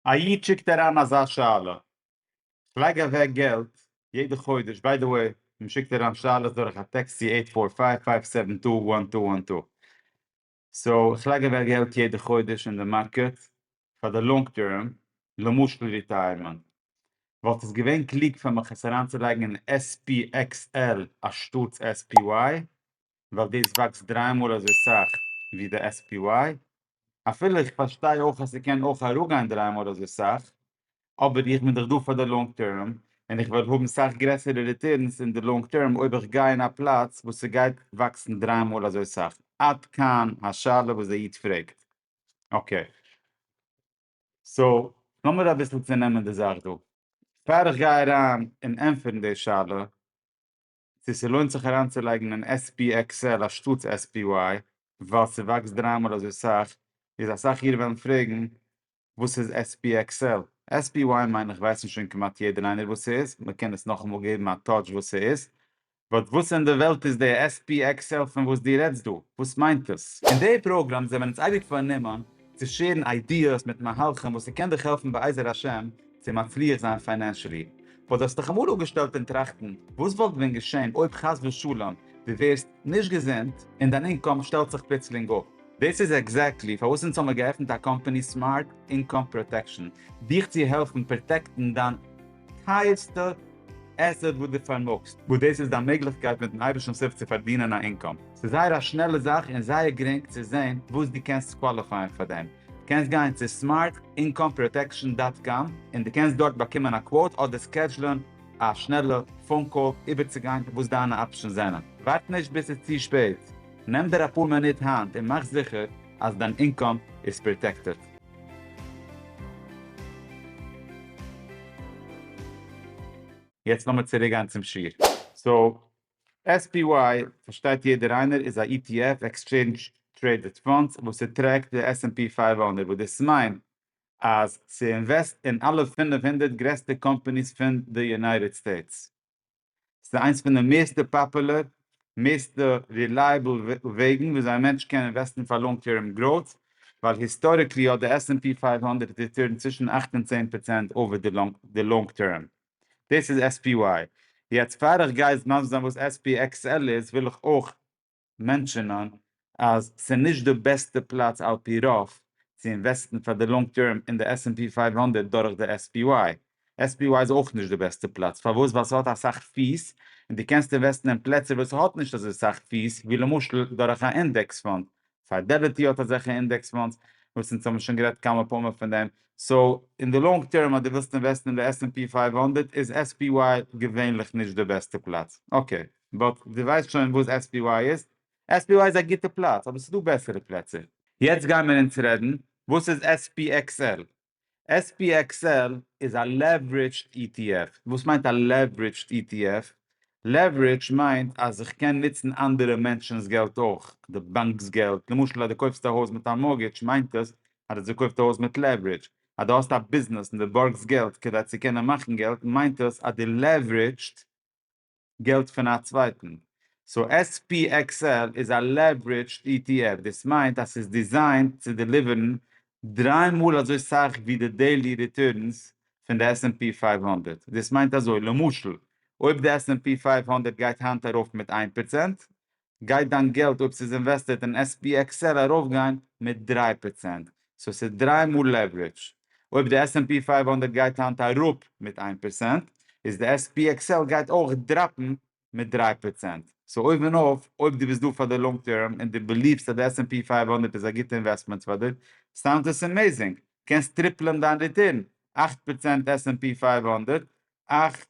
א איד שיקט אריין אזא שאלה, כ'לייג אוועק געלט יעדע חודש, ביי די וועי מען שיקט אריין שאלות דורך א טעקסט צו עיט פאר פייוו פייוו סעווען טו וואן טו וואן טו, סאו איך לייג אוועק געלט יעדע חודש אין די מארקעט פאר די לאנג טערם, למשל ריטייערמענט, וואלט עס געווען קלוג פאר מיך עס אריינצולייגן אין SPXL אנשטאטס SPY? ווייל דאס וואקסט דריי מאל אזוי סאך ווי די SPY, אפילו איך פארשטיי אויך אז ס'קען אויך אראפגיין דריי מאל אזוי סאך, אבער איך בין דאך דא פאר די לאנג טערם, און איך וועל האבן סאך גרעסערע ריטערנס אין די לאנג טערם אויב איך גיי אין א פלאץ וואס ס'גייט וואקסן דריי מאל אזוי סאך, עד כאן השאלה וואס די איד פרעגט. אקעי. סאו, לאמיר אביסל צונעמען די זאך דא. פאר איך גיי אריין און ענטפערן די שאלה, צו ס'לוינט זיך אריינצולייגן אין SPXL אנשטאטס SPY ווייל ס'וואקסט דריי מאל אזוי סאך, איז אסאך אירע וועלן פרעגן וואס איז SPXL? SPY מיין איך ווייסן שוין כמעט יעדער איינער וואס ס'איז, מ'קען עס נאכאמאל געבן א טאטש וואס ס'איז, באט וואס אין די וועלט איז די SPXL פון וואס דו רעדסט דא? וואס מיינט עס? אין די פראגראם זעמיר אונז אייביג פארנומען צו שעירן איידיעס מיט מהלכים וואס ס'קען דיך העלפן בעזר השם צו מצליח זיין פיינענשעלי. וואס האסט דיך אמאל אפגעשטעלט און טראכטן וואס וואלט ווען געשען אויב חס ושלום דו ווערסט נישט געזונט און דיין אינקאם שטעלט זיך פלוצלינג אפ? דאס איז עקזעקטלי פארוואס אונז האמיר געעפנט א קאמפאני סמארט אינקאם פראטעקשאן, דיך צו העלפן פראטעקטן דיין. טייערסטע עסעט וואס דו פארמאגסט, וואס דאס איז דיין מעגליכקייט מיט'ן אייבערשטנ'ס הילף צו פארדינען א אינקאם. ס'איז זייער א שנעלע זאך און זייער גרינג צו זען וואס דו קענסט קוואליפייען פאר דעם. דו קענסט גיין צו סמארט אינקאם פראטעקשאן דאט קאם און דו קענסט דארט באקומען א קוואוט אדער סקעדזשלען א שנעלע פאון קאל איבערצוגיין וואס דיינע אפשענס זענען. ווארט נישט ביז ס'איז צו שפעט, נעם דיר אפאר מינוט היינט און מאך זיכער אז דיין אינקאם איז פראטעקטעד. יעצט לאמיר צוריק גיין צום שיעור. סאו SPY פארשטייט יעדער איינער איז א ETF, עקסטשעינדזש טרעידעד פאנדס, וואס ס'טרעקט די עס ענד פי פֿינף הונדערט, וואס דאס מיינט אז ס'אינוועסט אין אלע פֿינף הונדערט גרעסטע קאמפאניס פון די יונייטעד סטעיטס. ס'איז איינס פון די מערסטע פאפולער, מערסטע רילייעבל וועגן וויאזוי א מענטש קען אינוועסטן פאר לאנג טערם גראוט, ווייל היסטאריקלי האט די עס ענד פי פֿינף הונדערט ריטורנט צווישן אַכט און צען פראצענט אויף די לאנג טערם. דאס איז SPY. יעצט פאר איך גיי מסביר זיין וואס SPXL איז, וויל איך אויך מענטשענען אז ס'איז נישט די בעסטע פלאץ על פי רוב צו אינוועסטן פאר די לאנג טערם אין די עס ענד פי פֿינף הונדערט דורך די עס פי וויי. עס פי וויי איז אויך נישט די בעסטע פלאץ. פארוואס? ווייל ס'האט אסאך פי'ס און דו קענסט אינוועסטן אין פלעצער וואס ס'האט נישט אזוי סאך פי'ס ווי למשל דורך א אינדעקס פאנד. פיידעליטי האט אזעלכע אינדעקס פאנדס וואס אונז האבן שוין גערעדט כמה פעמים פון דעם. סאו, אין די לאנג טערם אז דו ווילסט אינוועסטן אין די עס ענד פי פֿינף הונדערט איז עס פי וויי געווענליך נישט די בעסטע פלאץ. אקעי. באט דו ווייסט שוין וואס SPY איז? SPY איז א גוטע פלאץ, אבער ס'דא בעסערע פלעצער. יעצט גיימער אונז רעדן וואס איז SPXL. SPXL איז א לעווערידזשד ETF. וואס מיינט א לעווערידזשד ETF? לעווערידזש מיינט אז איך קען נוצן אנדערע מענטשנ'ס געלט אויך, די באנק'ס געלט, למשל אז דו קויפסט א הויז מיט א מארגעדזש מיינט עס אז דו האסט געקויפט א הויז מיט לעווערידזש, אז דו האסט א ביזנעס און דו בארגסט געלט כדי צו קענען מאכן געלט מיינט עס אז דו לעווערידזשט. געלט פון א צווייטן. סאו SPXL איז א לעוורידזשד ETF, דאס מיינט אז ס'איז דיזיינט צו דעליווערן דריי מאל אזוי סאך ווי די דעילי ריטורנס פון די עס ענד פי פֿינף הונדערט. דאס מיינט אזוי, למשל, אויב די עס ענד פי פֿינף הונדערט גייט היינט ארויף מיט איין פראצענט, גייט דיין געלט אויב ס'איז אינוועסטעד אין SPXL ארויפגיין מיט דרײַ פראצענט, סאו ס'איז דרײַ מאל לעווערידזש. אויב די עס ענד פי פֿינף הונדערט גייט היינט אראפ מיט איין פראצענט, איז די SPXL גייט אויך דראפן מיט דרײַ פראצענט. סאו אויבן אויף, אויב דו ביסט דא פאר די לאנג טערם און דו ביליוו'סט אז די עס ענד פי פֿינף הונדערט איז א גוטע אינוועסטמענט פאר דיר, סאונדס עס עמעזינג! קענסט טריפלען דיין ריטורן, אַכט פראצענט עס ענד פי פֿינף הונדערט, אַכט.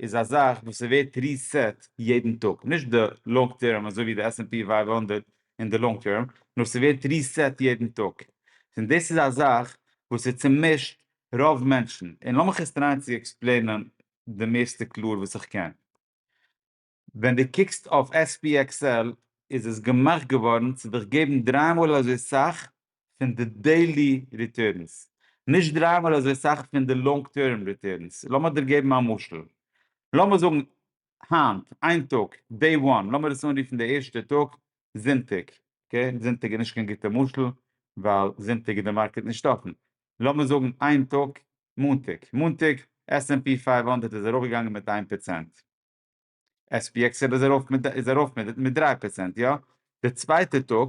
איז א זאך וואס ס'ווערט ריסעט יעדן טאג, נישט די לאנג טערם אזוי ווי די עס ענד פי פֿינף הונדערט אין די לאנג טערם, נאר ס'ווערט ריסעט יעדן טאג, און דאס איז א זאך וואס ס'צומישט רוב מענטשן, און לאמיך עס טרייען צו עקספלעינען די מערסטע קלאר וואס איך קען. ווען דו קוקסט אויף עס פי עקס על איז עס געמאכט געווארן צו דיך געבן דריי מאל אזוי סאך פון די דעילי ריטורנס, נישט דריי מאל אזוי סאך פון די לאנג טערם ריטורנס. לאמיר דיר געבן א משל. לאמיר זאגן היינט, איין טאג, דעי וואן, לאמיר עס אנרופן די ערשטע טאג, זונטאג. אקעי, זונטאג איז נישט קיין גוטע משל, ווייל זונטאג איז די מארקעט נישט אפן. לאמיר זאגן איין טאג, מאנטאג. מאנטאג, עס ענד פי פֿינף הונדערט איז ארויפגעגאנגען מיט איין פראצענט. עס פי עקס איז ארויף מיט דריי פראצענט, יא? די צווייטע טאג,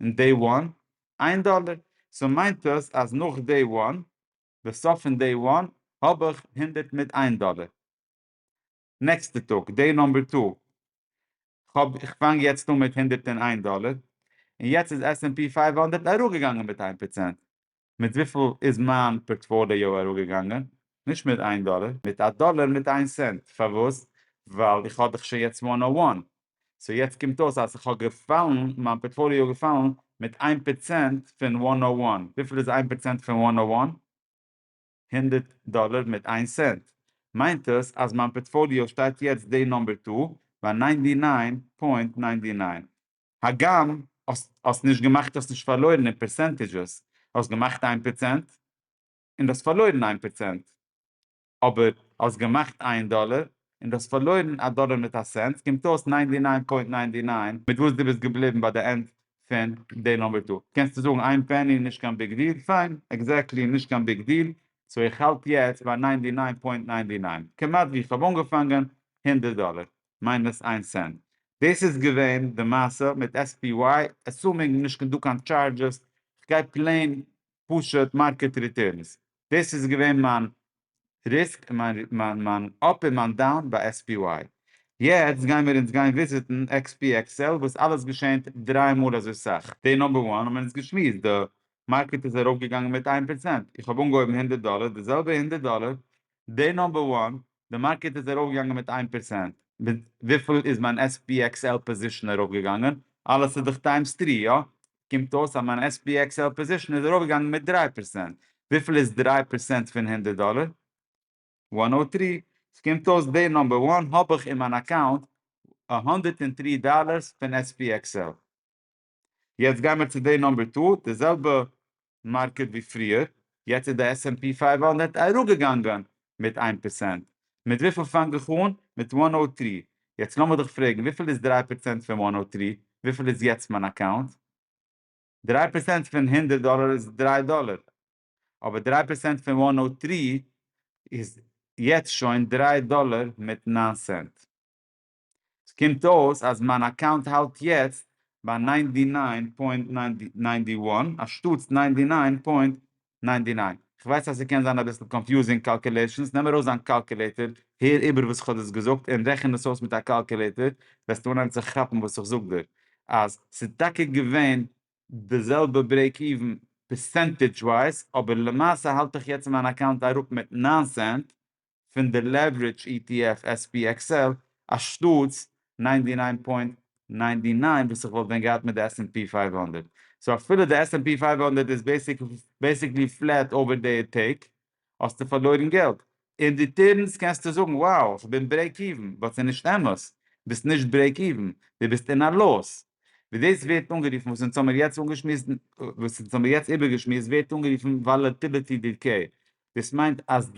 און דעי וואן איין דאלער, סאו מיינט דאס אז נאך דעי וואן, בסוף פון דעי וואן, האב איך הונדערט מיט איין דאלער. נעקסטע טאג, דעי נאמבער טו, כ'האב, כ'פאנג יעצט אן מיט הונדערט און איין דאלער, און יעצט איז עס ענד פי פֿינף הונדערט אראפגעגאנגען מיט איין פראצענט, מיט וויפיל איז מיין פארטפאליאו אראפגעגאנגען? נישט מיט איין דאלער, מיט א דאלער מיט איין סענט, פארוואס? ווייל איך האב דאך שוין יעצט וואן נאו וואן, סאו יעצט קומט אויס אז איך האב געפאלן, מיין פארטפאליאו איז געפאלן מיט איין פערצענט פון וואן נאו וואן, וויפיל איז איין פערצענט פון וואן נאו וואן? הונדערט דאלער מיט איין סענט, מיינט עס אז מיין פארטפאליאו שטייט יעצט די נאמבער דא ביי ניינטי ניין פוינט ניינטי ניין, הגם האסט נישט געמאכט האסט נישט פארלוירן אין פערסענטיזשעס, האסט געמאכט איין פראצענט און דו האסט פארלוירן איין פראצענט, אבער האסט געמאכט איין דאלער און דו האסט פארלוירן א דאלער מיט א סענט, קומט אויס ניינטי ניין פוינט ניינטי ניין מיט וואס דו ביסט געבליבן ביי די ענד פון די נומבער טא. קענסטו זאגן איין פעני נישט קיין ביג דיל, פיין, עקזעקטלי נישט קיין ביג דיל, סאו איך האלט יעצט ביי ניינטי ניין פוינט ניינטי ניין, כמעט ווי איך האב אנגעפאנגען, הונדערט דאלער. מיינוס איין סענט. דאס איז געווען די מעשה מיט SPY, עסומינג נישט קיין דא קיין טשארדזשעס, כ'גיי פלעין פשוט מארקעט ריטערנס, דאס איז געווען מיין ריסק און מיין מיין אפ און מיין דאון ביי SPY. יעצט גיי מיר אונז גיין וויזיטן XPXL וואס אלעס געשענט דרײַ מאל אזוי סאך. דעי נאמבער וואן האבן מיר אונז געשמועסט, די מארקעט איז ארויפגעגאנגען מיט איין פראצענט, איך האב אנגעהויבן הונדערט דאלער, די זעלבע הונדערט דאלער די נאמבער וואן, די מארקעט איז ארויף געגאנגען מיט איין פערצענט, מיט וויפיל איז מיין SPXL פאזישן ארויף געגאנגען? אלעס איז דאך טיימס טרי, איא? קומט אויס אז מיין SPXL פאזישן איז ארויף געגאנגען מיט דרײַ פערצענט, וויפיל איז דרײַ פערצענט פון הונדערט דאלער? וואן הונדערט טרי, עס קומט אויס די נאמבער וואן האב איך אין מיין אקאונט הונדערט און טרי דאלערס פון SPXL. יעצט גיימער צו די נאמבער טא, די זעלבע מארקעט ווי פריער, יעצט איז די עס ענד פי פייוו הונדערט אראפגעגאנגען מיט איין פערסענט, מיט וויפיל פאנג איך אן? מיט וואן נאו טרי, יעצט לאמיר דיך פרעגן וויפיל איז דרײַ פערסענט פון וואן נאו טרי? וויפיל איז יעצט מיין אקאונט? דרײַ פערסענט פון הונדערט דאלער איז דרײַ דאלער, אבער דרײַ פערסענט פון וואן נאו טרי איז יעצט שוין דרײַ דאלער מיט נײַן סענט. ס'קומט אויס אז מיין אקאונט האלט יעצט ביי ניינטי ניין פוינט ניינטי וואן אנשטאטס ניינטי ניין פוינט ניינטי ניין. כ'ווייס אז ס'קען זיין אביסל קאנפיוזינג קאלקולעישאנס, נעם ארויס דיין קאלקולעיטער, הער איבער וואס כ'האב דאס געזאגט און רעכן דאס אויס מיט א קאלקולעיטער, וועסטו אנהייבן צו כאפן וואס איך זאג דיר, אז ס'איז טאקע געווען די זעלבע ברעיק איווען פערסענטעדזש ווייז, אבער למעשה האלט איך יעצט מיין אקאונט אראפ מיט ניין סענט, פון די לעווערידזש אי טי עף עס פי עקס על אנשטאטס נײַן דיר נײַן פוינט נײַן דיר נײַן וואס איך וואלט ווען געהאט מיט די עס ענד פי פֿינף הונדערט. סאו אפילו די עס ענד פי פֿינף הונדערט איז בעסיקלי פלעט אווער די טעג האסטו פארלוירן געלט. אין ריטערנס קענסטו זאגן wow איך בין ברעיק איווען באט ס'איז נישט אמת ביסט נישט ברעיק איווען די ביסט אין א לאס ווי דאס ווערט אנגערופן וואס אונז האמיר יעצט איבערגעשמועסט ווערט אנגערופן וואלעטיליטי דיקעי דאס מיינט אז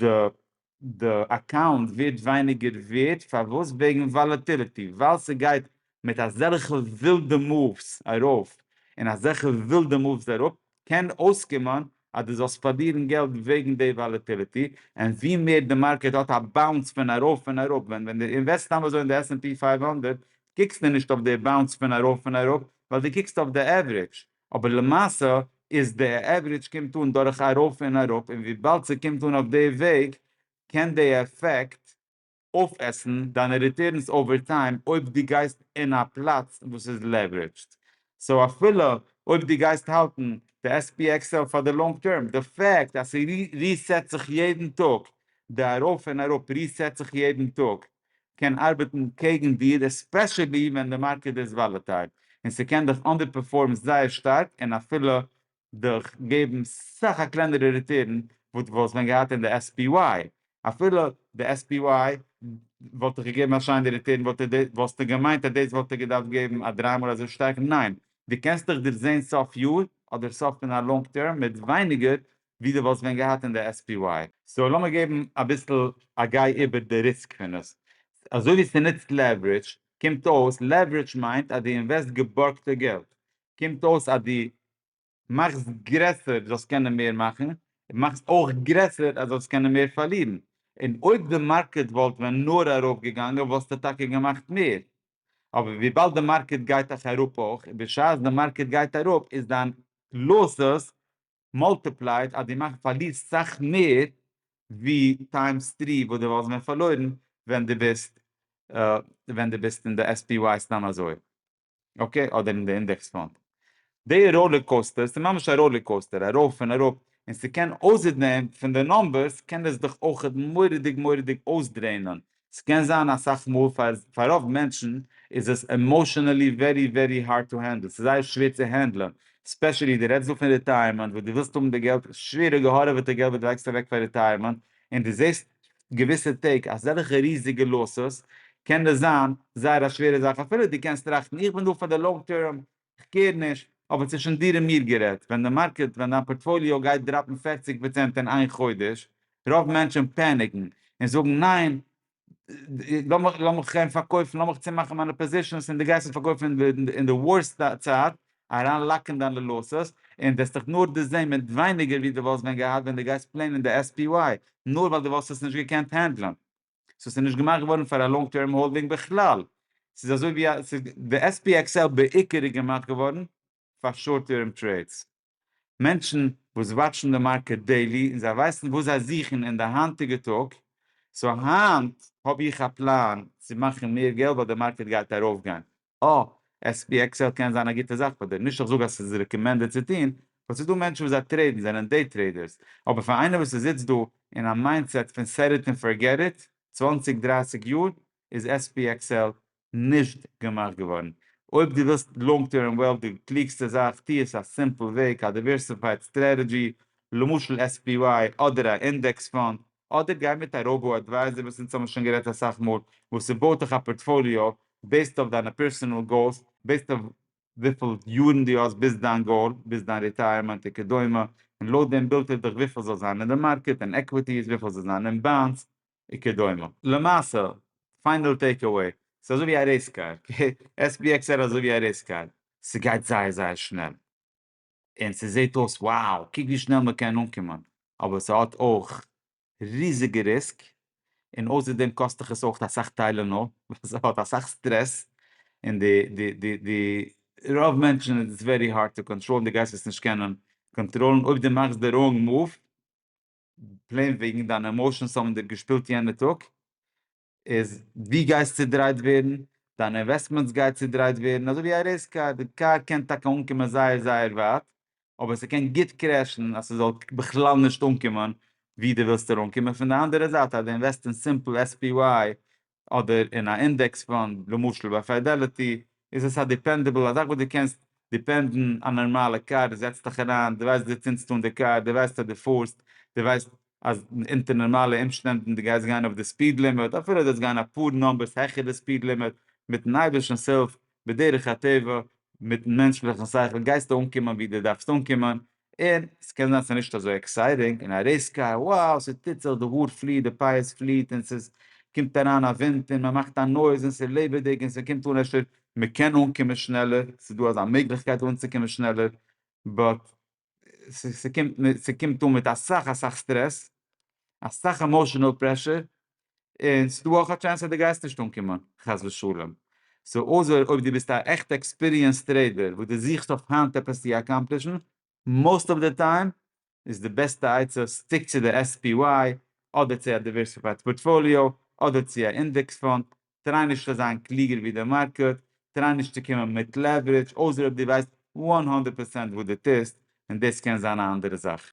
די אקאונט ווערט ווייניגער ווערט, פארוואס? וועגן וואלעטיליטי, ווייל ס'גייט מיט אזעלכע ווילדע מאווס ארויף און אזעלכע ווילדע מאווס אראפ, קען אויסקומען אז דו זאלסט פארלירן געלט וועגן די וואלעטיליטי, און ווי מער די מארקעט האט א באונס פון ארויף און אראפ, ווען ווען דו אינוועסט סתם אזוי אין די עס ענד פי פֿינף הונדערט, קוקסטו נישט אויף די באונס פון ארויף און אראפ, ווייל דו קוקסט אויף די עווערידזש, אבער למעשה איז די עוורידזש קומט אן דורך ארויף און אראפ און וויבאלד ס'קומט אן אויף די וועג קען די עפעקט אויפעסן דיינע ריטערנס אווער טיים אויב דו גייסט אין א פלאץ וואס איז לעוורידזשד סאו אפילו אויב דו גייסט האלטן די SPXL פאר די לאנג טערם די פעקט אז ס'ריסעט זיך יעדן טאג די ארויף און אראפ ריסעט זיך יעדן טאג קען ארבעטן קעגן דיר עספעשעלי ווען די מארקעט איז וואלעטייל און ס'קען דיך אנדערפערפארם זייער שטארק און אפילו דיך געבן סאך א קלענערע ריטערן וואס דו וואלסט ווען געהאט אין די SPY, אפילו די SPY וואלט דיך געגעבן א שיינע ריטערן וואלסטו געמיינט אז דאס וואלט דיר געדארפט געבן א דריי מאל אזוי שטארק, ניין דו קענסט דיך דערזעהן סוף יאר אדער סוף פון א לאנג טערם מיט ווייניגער ווי דו וואלסט ווען געהאט אין די SPY. סאו לאמיר געבן אביסל א גיי איבער די ריסק פון עס. אזוי ווי ס'נוצט לעווערידזש, קומט אויס לעווערידזש מיינט אז דו אינוועסט געבארגטע געלט. קומט אויס אז דו מאכסט גרעסער דו זאלסט קענען מער מאכן, און מאכסט אויך גרעסער אז דו זאלסט קענען מער פארלירן. און אויב די מארקעט וואלט ווען נאר ארויף געגאנגען וואלסטו טאקע געמאכט מער. אבער וויבאלד די מארקעט גייט דאך אראפ אויך, בשעת די מארקעט גייט אראפ איז דיין לאסס מאלטיפלייד אז די מאכט פארלירסט סאך מער ווי טיימס טרי וואס די וואלסט ווען פארלוירן ווען די ביסט ווען די ביסט אין די SPY סתם אזוי אקעי אדער אין די אינדעקס פאנד די ראלער קאוסטער סאיז ממש א ראלער קאוסטער ארויף און אראפ און סקען אויסער דעם פון די נומבערס קען עס דיך אויכעט מוראדיג מוראדיג אויסדרעינען ס'קען זיין אסאך מאל פאר פאר רוב מענטשן איז עס עמאשענעלי ווערי ווערי הארד טו הענדל, ס'איז זייער שווער צו הענדלען, ספעשעלי דו רעדסט דא פון ריטייערמענט וואס דו ווילסט האבן די געלט, שווערע געהארעוועטע געלט וואס דו לייגסט אוועק פאר ריטייערמענט, און דו זעסט געוויסע טעג אזעלכע ריזיגע לאסעס, קען עס זיין זייער א שווערע זאך אפילו דו קענסט טראכטן איך בין דא פאר די לאנג טערם, כ'קעיר נישט, אבער צווישן דיר און מיר גערעדט, ווען די מארקעט, ווען דיין פארטפאליאו גייט דראפן פֿערציק פראצענט אין איין חודש, רוב מענטשן פעניקן, און זאגן ניין, לאמיך לאמיך גיין פארקויפן, לאמיך צומאכן מיינע פאזישענס, און דו גייסט עס פארקויפן אין די ווארסט צייט, אריין לאקן דיינע לאסעס, און וועסט דיך נאר דערזען מיט ווייניגער ווי דו וואלסט ווען געהאט ווען דו גייסט פלענען די SPY, נאר ווייל דו וואלסט עס נישט געקענט הענדלען. סאו ס'איז נישט געמאכט געווארן פאר א לאנג טערם האלדינג בכלל, ס'איז אזוי ווי א, די SPXL בעיקר איז געמאכט געווארן פאר שארט טערם טרעידס. מענטשן וואס וואטשן די מארקעט דעילי און זיי ווייסן וואס זיי זוכן אין די היינטיגע טאג, סאו היינט האב איך א פלאן צו מאכן מער געלט ווייל די מארקעט גייט ארויפגיין, אה, עס פי עקסעל קען זיין א גוטע זאך פאר דיר, נישט אז כ'זאג אז ס'איז רעקאמענדעד צו טון, באט ס'איז דא מענטשן וואס זיי טרעידן, זענען דעי טרעידערס, אבער פאר איינער וואס איז איצט דא אין א מיינדסעט פון סעט איט און פארגעט איט, צוואַנציק דרייסיג יאר איז עס פי עקסעל נישט געמאכט געווארן. אויב דו ווילסט לאנג טערם וועלט די קלוגסטע זאך, טו עס א סימפל וועג, א דיווערסיפייד סטרעטעדזשי, למשל עס פי וויי אדער א אינדעקס פאנד, אדער גיי מיט א ראובאו אדווייזער וואס אונז האבן שוין גערעדט אסאך מאל, וואס ס'בויט דיך א פארטפאליאו בעיסד אויף דיינע פערסענעל גאולס, בעיסד אויף וויפיל יארן דו האסט ביז דיין גאול, ביז דיין ריטייערמענט וכדומה, און לויט דעם בילט ער דיך וויפיל זאל זיין אין די מארקעט און עקוויטיס, וויפיל זאל זיין אין באנדס וכדומה. למעשה, פיינעל טעיק עוועי, ס'איז אזוי ווי א רעיס קאר, אקעי? SPX ער אזוי ווי א רעיס קאר, ס'גייט זייער זייער שנעל. און ס'זעט אויס וואו, קוק ווי שנעל מ'קען אנקומען, אבער ס'האט אויך ריזיגע ריסק, און אויסער דעם קאסט דיך עס אויך אסאך טיילענאל, ווייל ס'האט אסאך סטרעס, און די די די די רוב מענטשן איז עס ווערי הארד טו קאנטראלן, די גייסט עס נישט קענען קאנטראלן, אויב די מאכסט די ראונג מאוו, פלעין וועגן דיינע עמאושענס האבן דיר געשפילט יענע טאג, איז דו גייסט צודרייט ווערן, דיין אינוועסטמענטס גייט צודרייט ווערן, אזוי ווי א רעיס קאר, די קאר קען טאקע אנקומען זייער זייער ווייט, אבער ס'קען גוט קרעשן אז ס'זאל בכלל נישט אנקומען ווי דו ווילסט אראנקומען, פון די אנדערע זייט אז דו אינוועסט אין סימפל SPY אדער אין א אינדעקס פאנד, למשל ביי פידעליטי, איז עס א דיפענדעבל, א זאך וואס דו קענסט דיפענדן א נארמאלע קאר, דו זעצט דיך אריין, דו ווייסט ווי דו צינדסט אן די קאר, דו ווייסט אז דו פארסט, דו ווייסט אז אונטער נארמאלע אומשטענדן דו גייסט גיין אויף די ספיד לימיט, אפילו דו זאלסט גיין אפאר נומבערס העכער די ספיד לימיט, מיטן אייבערשטנ'ס הילף, בדרך הטבע, מיטן מענטשליכן שכל, גייסטו אנקומען ווי דו דארפסט אנקומען, און ס'קען זיין ס'איז נישט אזוי עקסייטינג און א רעיס קאר, wow, ס'טוט זיך, די האר פליעט, די פייערס פליעט און ס'איז קומט אריין א ווינט און מ'מאכט א נויז און ס'איז לעבעדיג און ס'קומט אן אפשר מ'קען אנקומען שנעלער, ס'איז דא אזא מעגליכקייט אנצוקומען שנעלער, באט ס'קומט אן מיט אסאך אסאך סטרעס, אסאך עמאשענעל פרעשור, און ס'איז דא אויך א טשענס אז די גייסט נישט אנקומען חס ושלום, סאו אויסער אויב די ביסט א עכטע עקספיריענס טרעידער וואס די זוכסט אויף היינט עפעס צי אקאמפלישן מאוסט אוו די טיים איז די בעסטע עצה סטיק צו די SPY אדער צו א דיווערסיפייד פארטפאליאו אדער צו א אינדעקס פאנד טריי נישט צו זיין קלוגער ווי די מארקעט טריי נישט צו קומען מיט לעווערידזש אויסער אויב דו ווייסט וואן הונדערט פערצענט וואס דו טוסט און דאס קען זיין א אנדערע זאך.